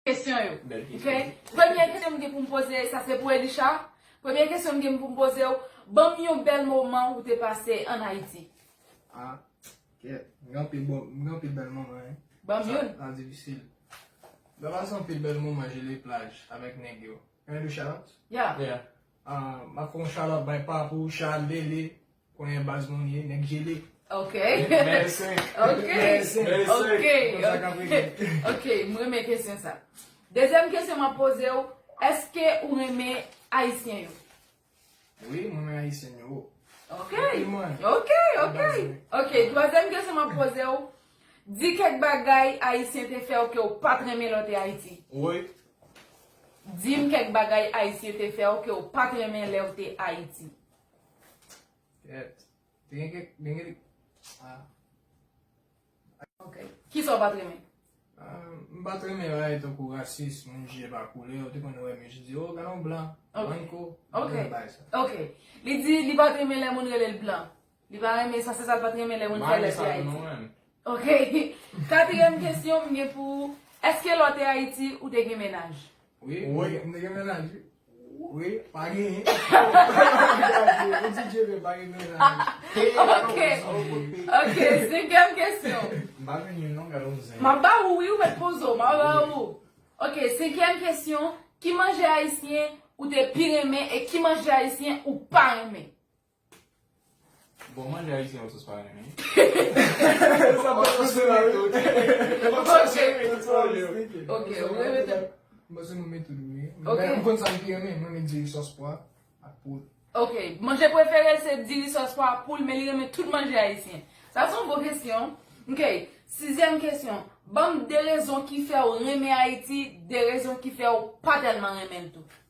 Kesyon yo. Ok. Premye kesyon m gen pou m poze e sa se pou Elisha. Premye kesyon m gen pou m poze w, banm yon bèl moman ou te pase an Ayiti. Ah kèt. M gen anpil bon, m gen anpil bèl moman wi. Banm youn. Sa pa difisil. Mwen pase anpil bèl moman Joliet plage avèk nèg yo. Yon Elisha? Yeah. Yeah. Map fè yon shout out bay papou Charles Lele konyen baz moun ye nèg jele. Ok ok m renmen kesyon sa. Dezyèm kesyon map poze w eske ou renmen ayisyen yo? Wi m renmen ayisyen yo. Ok ok ok ok twazyèm kesyon map poze w Di kèk bagay Ayisyen te fè w ke w pa t renmen lè w te Ayiti. Woy! Di m kèk bagay Ayisyen te fè w ke w pa t renmen lè w te Ayiti. Kèt. Te gen kèk. Te gen. A. Ok. Ki sa w pa t renmen? M pa t renmen bagay tankou rasis, moun jije pa koulè. Ou te konn wè mouche di, O, gade yon blan. Ok. Blanco. Ok. Li pa t renmen lè moun rele l blan. Li pa renmen sa, se sa l pa t renmen lè moun fè lòt te Ayiti. Ok. Katriyèm kesyon m gen pou ou, èske lè w te Ayiti ou te gen mennaj? Wi, m te gen mennaj wi. Wi, pa genyen. Ou di je ve pa gen mennaj. Ok, senkèm kesyon. M pa vin yon non, gade yon zen. M ap ba ou wi, ou mèt poze w, m ap ba ou. Ok, senkèm kesyon, ki manje Ayisyen ou te pi renmen e ki manje Ayisyen ou pa renmen? Bon manje ayisyen yo sòs pa renmen. Ok manje preferel se diri sòs pwa ak poul men li renmen tout manje ayisyen. Sa son bon kesyon. Ok sizyèm kesyon banm de rezon ki fèw renmen ayiti de rezon ki fèw pa tèlman renmenl tou.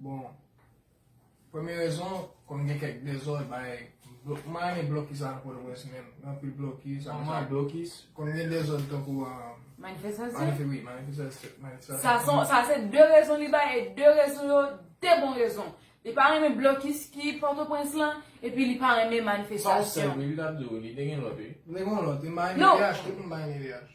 Bon, premye rezon, kòm gen kèk dezòd bay, mwen renmen blokis la nan Pòtoprens menm, gen anpil blokis, apre sa blokis, kòm gen dezòd tankou a, manifestasyon, oui, manifestasyon. Sa se 2 rezon li bay, e 2 rezon yo, 2 bon rezon. Li pa renmen blokis ki Pòtoprens lan, epi li pa renmen manifestasyon. Sa ou sèl, li tap di ou, li te gen lòt wi. Li te gen lòt, li bay MDH, tout moun bay MDH.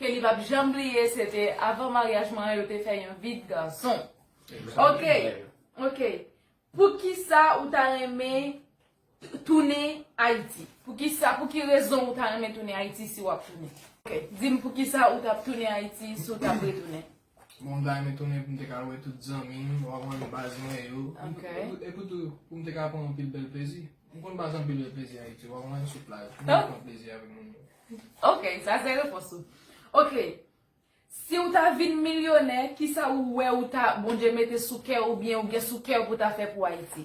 Ke li pap janm bliye se te avan maryaj mwen an yo te fè yon vide garçon ok ok poukisa ou ta renmen tounen ayiti poukisa pou ki rezon ou ta renmen tounen ayiti si wap tounen ok dim poukisa ou tap tounen ayiti si w tap retounen. Bon bagay mwen tounen pou m te ka wè tout zanmi m, ou konprann, baz mwen yo. Epi tou pou m te ka pran anpil bèl plezi. M konn pase anpil bèl plezi Ayiti, ou konprann, sou plaj. M konn pran plezi avèk moun yo. Ok, sa se repons ou. Ok, si ou ta vin milyonè, kisa ou wè ou ta, Bondye mete sou kè ou oubyen ou gen sou kè ou pou ta fè pou Ayiti?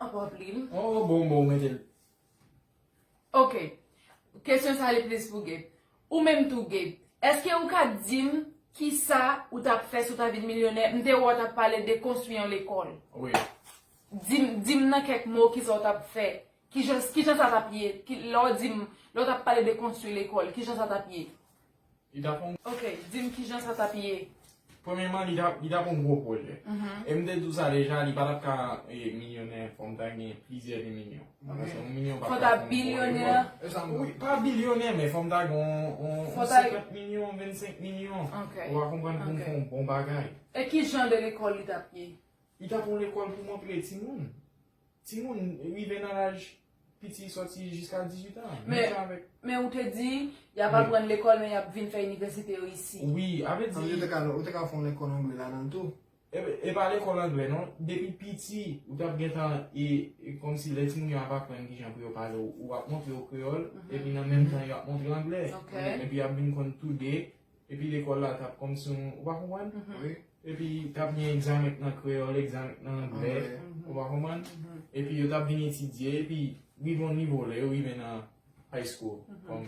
Anpwa plim. Oh bon bon metel. Ok. Kesyon sa li plis pou Gabe. Ou menm tou Gabe. Eske ou ka dim kisa ou tap fè si ou ta vin milyonè? M te wè ou tap pale de konstwi yon lekòl. Wi. Dim dim nan kèk mo kisa ou tap fè. Kijan kijan sa tap ye? Ki lè ou dim lè ou tap pale de konstwi lekòl kijan sa tap ye? Li tap yon. Ok, dim kijan sa tap ye. Premyeman li tap yon gwo pwojè. E m te di w sa deja li pa tap ka milyonè fò m ta gen plizyè de milyon. Paske yon milyon pa fè. Fò ta bilyonè. Wi, pa bilyonè men fò m ta gen yon 50 milyon, 25 milyon. Ok. Ou a konprann pou m fè yon bon bagay. E kijan de lekòl li tap ye? Li tap yon lekòl pou montre timoun. Timoun rive nan laj piti sòti jiska 18 an. Menm jan avèk. Men ou te di, y ap aprann lekòl men y ap vin fè inivèsite yo isi. Wi, a vle di. Ou te ka fè yon lekòl angle ladan l tou. E pa lekòl angle non. Depi piti, ou t ap gentan e kòmsi lè timoun yo ap aprann ki jan pou yo pale ou ap montre yo kreyòl epi nan menm tan yo ap montre angle. Epi y ap vin konn tou de. Epi lekòl la t ap kòmsi yon, ou pa konprann? Epi t ap gen egzamen nan kreyòl, egzamen nan angle, ou pa konprann? Epi yo t ap vin etidye, epi rive yon nivo, lè yo rive nan high school, kòm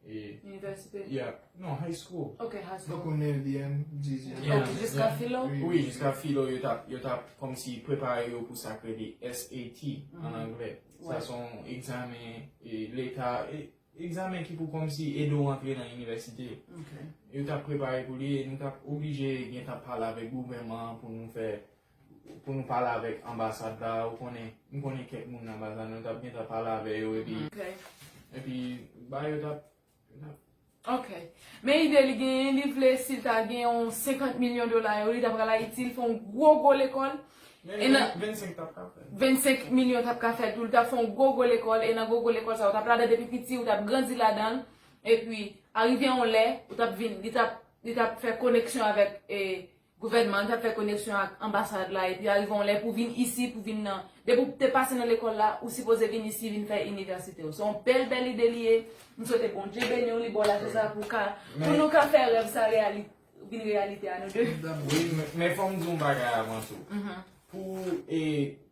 e. Inivèsite? Ya, non, high school. Ok, high school. Tankou nevyèm, dizyèm. Ya. Ok, jiska filo? Wi, jiska filo, yo t ap, yo t ap kòmsi prepare yo pou sa k rele SAT, an angle. Sa s on egzamen e leta, e. Egzamen ki pou kòmsi ede w antre nan inivèsite yo. Yo t ap prepare pou li e nou t ap oblije gentan pale avèk gouvèman an pou nou fè, pou nou pale avèk anbasad la, ou konnen, m konnen kèk moun nan anbasad la, nou t ap gentan pale avè yo epi, epi ba yo t ap, yo t ap. Ok. Men ide li genyen, li vle si l ta gen yon 50 milyon dola yo, li ta pral Ayiti, li fè yon gwo gwo lekòl, E nan. 25 tap ka fè. 25 milyon tap ka fè tou. Li tap fè yon gwo gwo lekòl. E nan gwo gwo lekòl sa ou tap la dan depi piti. Ou tap grandi la dan. E pi arive yon lè. Ou tap vin. Li tap. Li tap fè koneksyon avèk e. Gouvènman. Li tap fè koneksyon ak anbasad la. E pi arive yon lè pou vin isi. Pou vin nan. Depi ou te pase nan lekòl la. Ou sipoze vin isi vin fè inivèsite ou. Se yon bèl bèl ide li ye. M swete Bondye beni ou li baw la. Pou sa pou ka. Pou nou ka fè rèv sa reyalite. Ou vin reyalite a nou 2. Wi men fòm di yon bagay avan sou. Pou e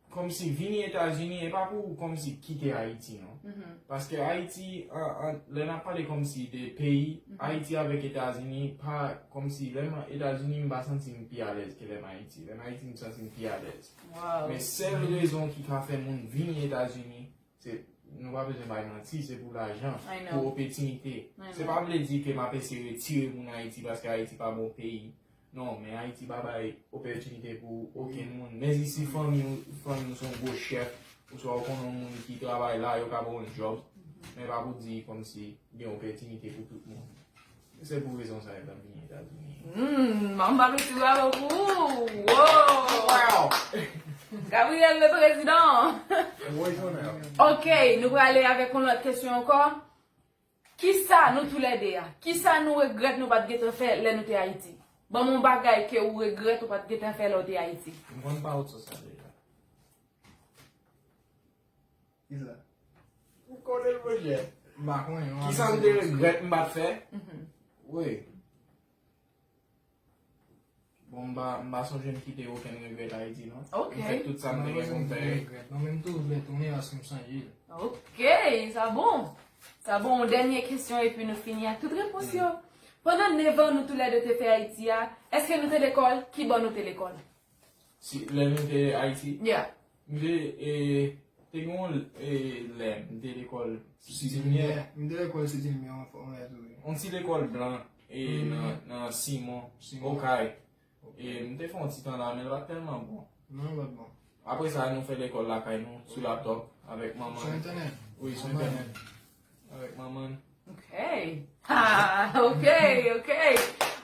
kòm si vini Etazini e pa pou kòm si kite Ayiti non. Paske Ayiti an lè nan pale kòm si de peyi Ayiti avèk Etazini pa kòm si lè nan Etazini m pa santi m pi alèz ke lè m Ayiti. Lè m Ayiti m santi m pi alèz. Men sèl rezon ki ka fè moun vini Etazini Se nou pa bezwen bay manti, se pou lajan, pou opetinite. Se pa vle di ke map ese retire moun Ayiti paske Ayiti pa bon peyi. Non, men Ayiti pa bay opetinite pou oken moun. Men si si fanmi ou, fanmi ou son gwo chèf, ou swa ou konnen moun ki travay la, yo ka ba ou yon job. Men pa pou di kòm si gen opetinite pou tout moun. Se pou rezon sa yo ta vini Etazini. Humm, an ba mesi bravo pou ou. Woww. Gabriel le prezidan. Woy tonèr. Ok, nou prale avèk yon lòt kesyon ankò. Kisa nou tou lè 2 a, kisa nou regrèt nou pat gentan fè lè nou te Ayiti? Banm yon bagay ke ou regrèt ou pat gentan fè lè ou te Ayiti. M konn pa ou t sou sa deja. Kisa? Ou konnen l mwen jè? M pa konnen non. Kisa m te regrèt m pa t fè? Woy. Bon m pa sonje m kite okenn regrèt Ayiti non. Ok. M fè tout sa m te gen pou m fè. Mwen menm tou m vle tounen paske m sonje l. Ok. Sa bon. Sa bon. Yon dènye kesyon epi nou fini ak tout repons yo. Pandan 9 an nou tou lè 2 te fè Ayiti a, èske nou te lekòl? Kibo nou te lekòl? Si lè nou te Ayiti? Yeah. M te, e, te gen yon e, lè m te lekòl Sitimye. M te lekòl Sitimye yon fwa mwen tou. Yon ti lekòl blan e nan nan Simon, Okay. E m te fè yon ti tan la men l pa t tèlman bon. Non l pa t bon. Apre sa nou fè lekòl lakay nou sou laptòp avèk manman. Sou entènèt? Wi, sou entènèt. Alright manman. Ok. Ah, ok, ok.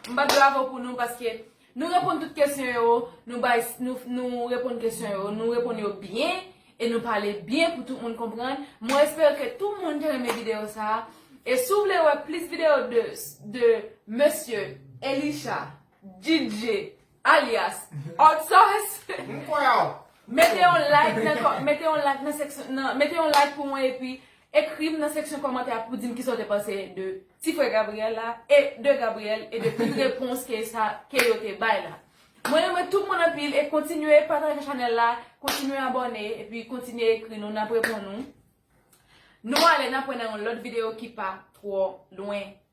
M bat bravo pou nou paske nou reponn tout kesyon yo, nou bay, nou reponn kesyon yo, nou reponn yo byen, e nou pale byen pou tout moun konprann. Mwen espere ke tout moun te renmen videyo sa. E si w vle wè plis videyo de, de Mesye Elisha, DJ, Alyas Hot Sauce. M kwè w. Mete yon like nan kò mete yon like nan seksyon nan mete yon like pou mwen epi ekri m nan seksyon kòmantè a pou di m kisa w te panse de ti frè Gabriel la e de Gabriel e de tout repons ke sa ke yo te bay la. Mwen renmen tout moun anpil e kontinye pataje chanèl la, kontinye abòne epi kontinye ekri nou n ap reponn nou. Nou ale n ap wè nan yon lòt videyo ki pa twò lwen.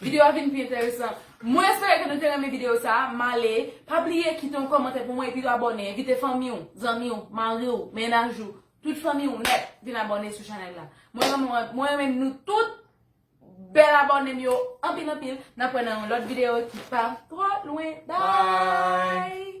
Video a vin pi enteresan. Mwen espere ke nou te renmen video sa. M ale. Pa bliye kite yon komantè pou mwen epi tou abone. Envite fanmi w, zanmi w, mari w, mennaj ou, tout fanmi w nèt vin abone sou chanèl la. Mwen renmen w, mwen renmen nou tout bèl abone m yo anpil anpil. N ap wè nan yon lòt video ki pa twò lwen. Bye!